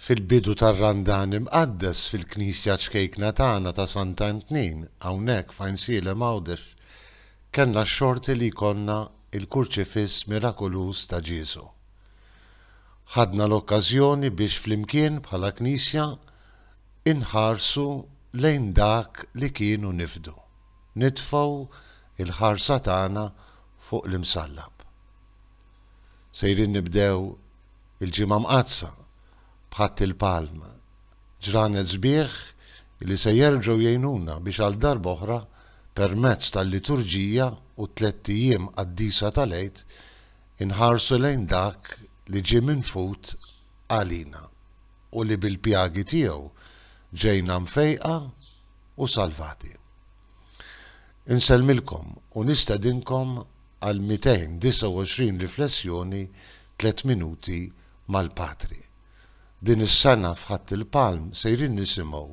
fil-bidu tar-Randan Imqaddes fil-Knisja ċkejkna tagħna ta' Santa Entnin hawnhekk f'Għajnsielem Għawdex kellna x-xorti li jkollna l-Kurċifiss mirakoluż ta' Ġiesu. Ħadna l-okkażjoni biex flimkien bħala Knisja inħarsu lejn dak li kien u nifdu, nitfgħu l-ħarsa tagħna fuq l-Imsallab. Sejrin nibdew il-Ġimgħa Mqaddsa b'Ħadd il-Palm, ġranet sbieħ li se jerġgħu jgħinuna biex għal darba oħra permezz tal-liturġija u t-tlett ijiem qaddisa tal-Għid inħarsu lejn dak li ġie minfud għalina u li bil-pjagi tiegħu ġejna mfejqa u salvati. Insellmilkom u nistedinkom għal 229 riflessjoni tliet minuti mal-Patri. Din is-sena f'Ħadd il-Palm sejrin nisimgħu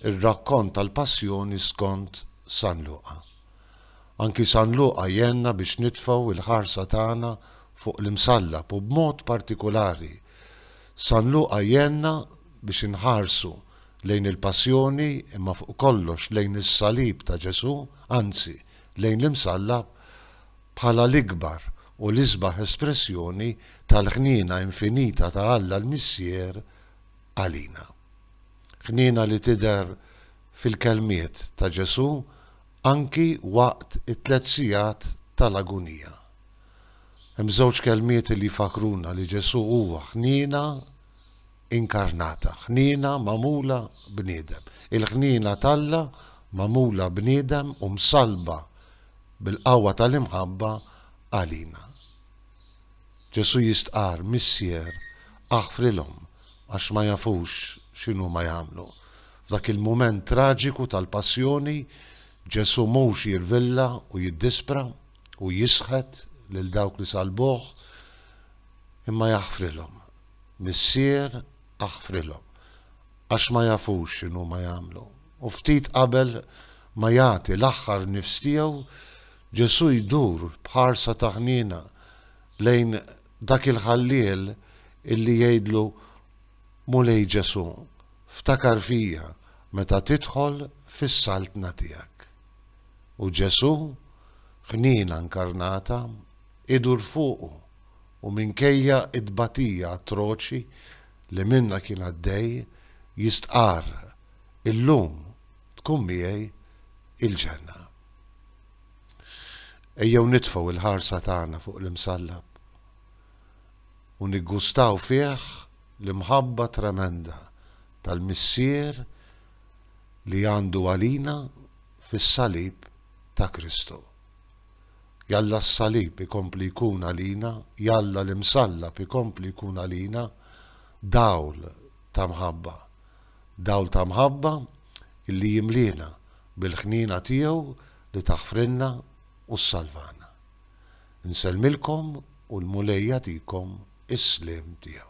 r-rakkont tal-Passjoni skont San Luqa. Anki San Luqa jgħenna biex nitfgħu l-ħarsa tagħna fuq l-Imsallab u b'mod partikulari San Luqa jgħenna biex inħarsu lejn il-passjoni imma fuq kollox lejn is-salib ta' Ġesù, anzi, lejn l-Imsallab bħala l-ikbar u l-isbaħ espressjoni tal-ħniena infinita ta' Alla l-Missier għalina. Ħniena li tidher fil-kelmiet ta' Ġesù anki waqt it-tliet sigħat tal-agunija. Hemm żewġ kelmiet li jfakkruna li Ġesù huwa ħniena inkarnata, ħniena magħmula bniedem. Il-ħniena t'Alla magħmula bniedem u msallba bil-qawwa tal-imħabba għalina. Ġesù jistqarr, Missier, aħfrilhom għax ma jafux x'inhuma jagħmlu. F'dak il-mument traġiku tal-Passjoni, Ġesù mhux jirvilla u jiddispra u jisħet lil dawk li sallbuh, imma jaħfrilhom Missier, aħfrilhom, għax ma jafux x'inhuma jagħmlu. U ftit qabel ma jagħti l-aħħar nifs tiegħu, Ġesù jdur b'ħarsa ta' ħniena lejn dak il-ħalliel illi jgħidlu, Mulej Ġesù, ftakar fija meta tidħol fis-saltna tiegħek. U Ġesù, ħniena nkarnata, idur fuqu. u minkejja t-tbatija atroċi li minnha kien għaddej, jistqarr, Illum tkun miegħi il-ġenna. Ejjew nitfgħu l-ħarsa tagħna fuq l-Imsallab u niggustaw fih l-imħabba tremenda tal-Missier li għandu għalina fis-salib ta' Kristu. Jalla s-Salib ikompli jkun għalina, jalla l-Imsallab ikompli jkun għalina dawl ta' mħabba. Dawl ta' mħabba illi jimliena bil-ħniena tiegħu li taħfrilna u ssalvana. Insellmilkom u l-Mulej jagħtikom is-sliem tiegħu.